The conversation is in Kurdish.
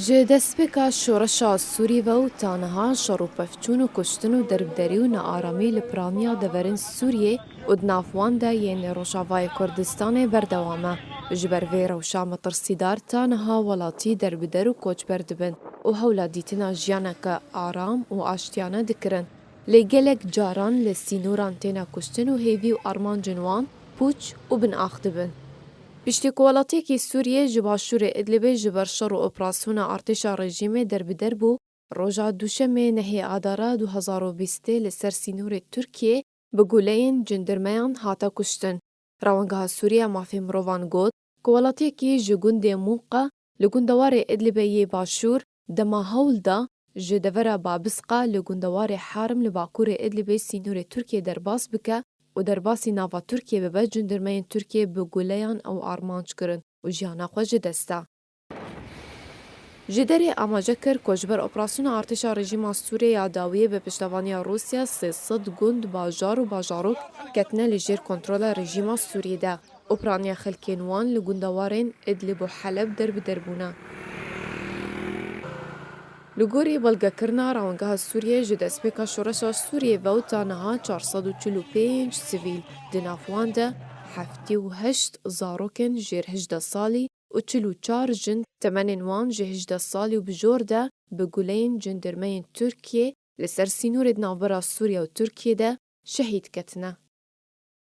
Ji destpêka şoreşa Sûrî ve û ta niha şer û pevçûn û kuştin û derbderî û nearamî li piraniya deverên Sûriyê û di nav wan de yên Rojavayê Kurdistanê berdewam e. Ji ber vê rewşa metirsîdar ta niha welatî derbider û koçber dibin û hewla dîtina jiyaneke aram û aştiyane dikirin. Lê gelek caran li sînoran têne kuştin û hêvî û armancên wan pûç û binax dibin. Piştî ku welatiyekî Sûriyê ji başûrê Idlibê ji ber şer û operasyona artêşa rejîmê derbider bû, roja Duşemê nehê Adara du hezar û bîstê li ser sînorê Tirkiyê bi guleyên cendirmeyan hate kuştin. Rewengeha Sûriye ya Mafê Mirovan got ku welatiyekî ji gundê Munqa Li gundewarê Idlibê yê başûr dema hewl da ji devera Babisqa li gundewarê Harim li bakurê Idlibê sînorê Tirkiyê derbas bike û derbasî nava Tirkiyê bibe cendirmeyên Tirkiyê bi guleyan ew armanc kirin û jiyana xwe ji dest da. Ji derê amaje kir ku ji ber operasyona artêşa rejîma Sûriyê ya dawiyê bi piştevaniya Rûsya sê sed gund, bajar û bajarok ketine li jêr kontrola rejîma Sûriyê de. Opraniya xelkên wan li gundewarên Idlib û Heleb der bi der bûne. Li gorî belgekirina Rewingeha Sûriyê ji destpêka şoreşa Sûriyê vew ta niha çar sed û çil û pênc sivîl, di nav wan de heftê û heşt zarokên jêr hejdeh salî û çil û çar jin temenên wan ji hejdeh salî û bijor de bi guleyên cendermeyên Tirkiyê li ser sînorê di navbera Sûriye û Tirkiyê de şehîd ketine.